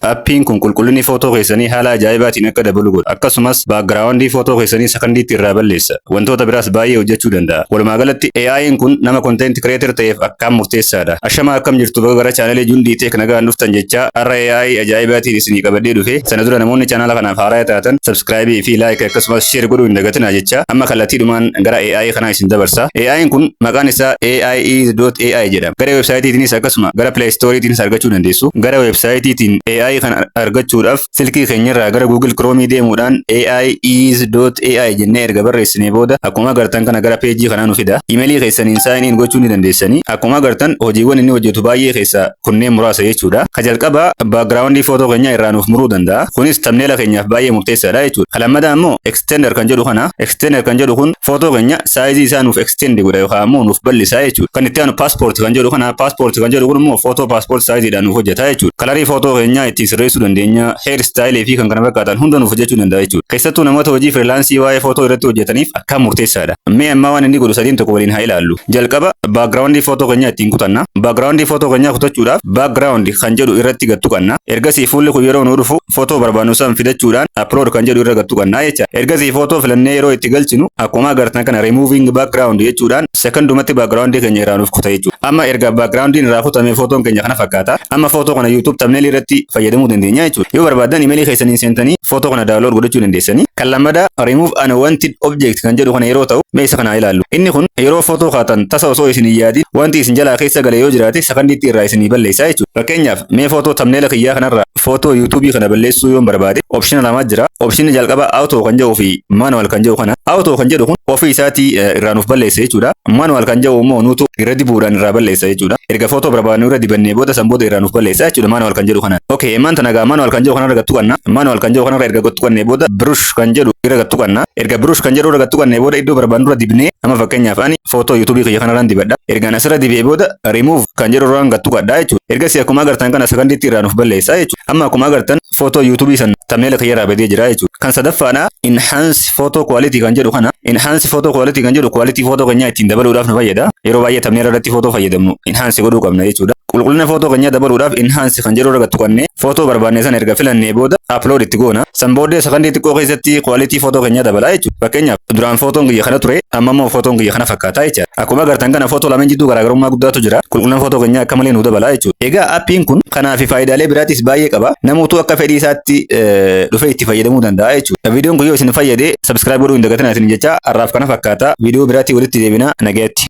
Appiin kun qulqullinni footoo keessanii haala ajaa'ibaatiin akka dabalu godha. Akkasumas, baakgiraawandii footoo keessanii sakandiitti irraa balleessa. Wantoota biraas baay'ee hojjechuu danda'a. Walumaagalatti, AI'n kun nama content creator ta'eef akkaan murteessaadha. Ashamaa akkam jirtu baga gara channel Jundii Tech nagaan dhuftan jechaa, har'a AI ajaa'ibaatiin isinii qabadhee dhufe. Sana dura namoonni channel kanaaf haaraya taatan subscribe fi like akkasumas share godhuu hin dagatinaa jechaa, amma kallattiidhumaan gara AI kanaa isin dabarsa. AI'n kun maqaan isaa AIEase.ai jedhama. Gara websaayitiitiinis akkasuma gara Play Store'tiinis argachuu dandeessu. Gara websaayitiitiin AI kana argachuudhaaf silkii keenyarraa gara Google Chrome deemuudhaan AI is .ai jennee erga barreessinee booda akkuma agartan kana gara peejii kanaa nu fida. Imeelii keessaniin sign in gochuu ni dandeessanii. Akkuma agartan hojiiwwan inni hojjetu baay'ee keessaa kunneen muraasa jechuudha. Ka jalqabaa background footoo keenyaa irraa nuuf muruu danda'a. Kunis thumbnail keenyaaf baay'ee murteessaadha jechuudha. Ka lammataa immoo extender kan jedhu kana extender kan jedhu kun footoo keenya saayizii isaa nuuf extend godha yookaan ammoo nuuf bal'isaa jechuudha. Kan itti aanu passport kan jedhu kana passport kan jedhu kun immoo footoo passport saayiziidhaan nuuf hojjeta jechuudha. Kalarii footoo keenyaa ittiin sirreessuu dandeenya, hair style fi kan kana fakkaatan hunda nuuf hojjechuu danda'a jechuudha. Keessattuu namoota hojii freelaansii waa'ee footoo irratti hojjetaniif akkaan murteessaadha. Mee ammaa waan inni godhu sadiin tokko waliin haa ilaallu. Jalqaba background footoo keenyaa ittiin kutanna. Background footoo keenyaa kutachuudhaaf background kan jedhu irratti gad tuqanna. Ergasii fuulli kun yeroo nu dhufu footoo barbaannu san fidachuudhaan upload kan jedhu irra gad tuqannaa jecha. Ergasii footoo filannee yeroo itti galchinu akkuma agartan kana removing background jechuudhaan sekondumatti background keenya irraa nuuf kuta jechuudha. Amma erga background irraa kutame footoon keenya kana fakkaata. Amma footoo kana YouTube thumbnail irratti fayyadamuu dandeenya jechuudha. Yoo barbaaddan imeelii keessaniin seentanii footoo kana download godhachuu dandeessanii. Kan lammadaa remove unwanted object kan jedhu kana yeroo ta'u mee isa kana ilaallu. Inni kun yeroo footoo kaatan tasa osoo isin hin yaadin wanti isin jalaa keessa gale yoo jiraate sakandiitti irraa isinii balleessaa jechuudha. Fakkeenyaaf mee footoo thumbnail kiyyaa kanarraa footoo yuutuubii kana balleessuu yoon barbaade opshina lamaa jira. Opshinni jalqabaa auto kan jedhuu fi manual kan jedhu kana. Auto kan jedhu kun ofii isaatii eh, irraa nuuf balleessa jechuudha. Manual kan jedhu immoo nuutu irra dibuudhaan irraa balleessa jechuudha. Erga footoo barbaadnu irra dibannee booda san booda irraa nuuf balleessa jechuudha manual kan jedhu kana. Okay, emaan tana egaa manual kan jedhu kana irra gattu qabna. Manual kan jedhu kana irra erga gattu qabnee booda brush kan jedhu irra gattu qabna. Erga brush kan jedhu irra gattu qabnee booda iddoo barbaadnu irra dibnee amma fakkeenyaaf ani footoo yuutuubii kiyya kanarraan dibadha. Ergaan asirra dibee booda remove kan jedhu irraan gad tuqadha jechuudha. Ergasii akkuma agartan kana sakandiitti irraa nuuf balleessa jechuudha. Amma akkuma agartan footoo yuutuubii san tamneela kiyyarraa badee jira jechuudha. Kan sadaffaadha enhance photo quality kan jedhu kana enhance photo quality kan jedhu quality footoo keenyaa ittiin dabaluudhaaf nu fayyada. Yeroo baay'ee tamneela irratti footoo fayyadamnu enhance godhuu qabna jechuudha. Qulqullina footoo keenyaa dabaluudhaaf enhance kan jedhu irra gad tuqannee footoo barbaanne san erga filannee booda upload itti goona. San booddee sakandii xiqqoo keessatti quality footoo keenyaa dabalaa jechuudha. Fakkeenyaaf duraan footoon kiyya kana ture amma immoo footoon kiyya kana fakkaata jechuudha. Akkuma agartan kana footoo lameen jidduu garaagarummaa guddaatu jira. Qulqullina footoo keenyaa akka malee nu dabala jechuudha. Egaa appiin kun kanaa fi faayidaalee biraatis baay'ee qaba. Namootu akka fedhii isaatti dhufee itti fayyadamuu danda'a jechuudha. Viidiyoon kun yoo isin fayyade subscribe godhuu hin dagatinaa isin jecha har'aaf kana fakkaata. Viidiyoo biraatii walitti deebina nagayatti.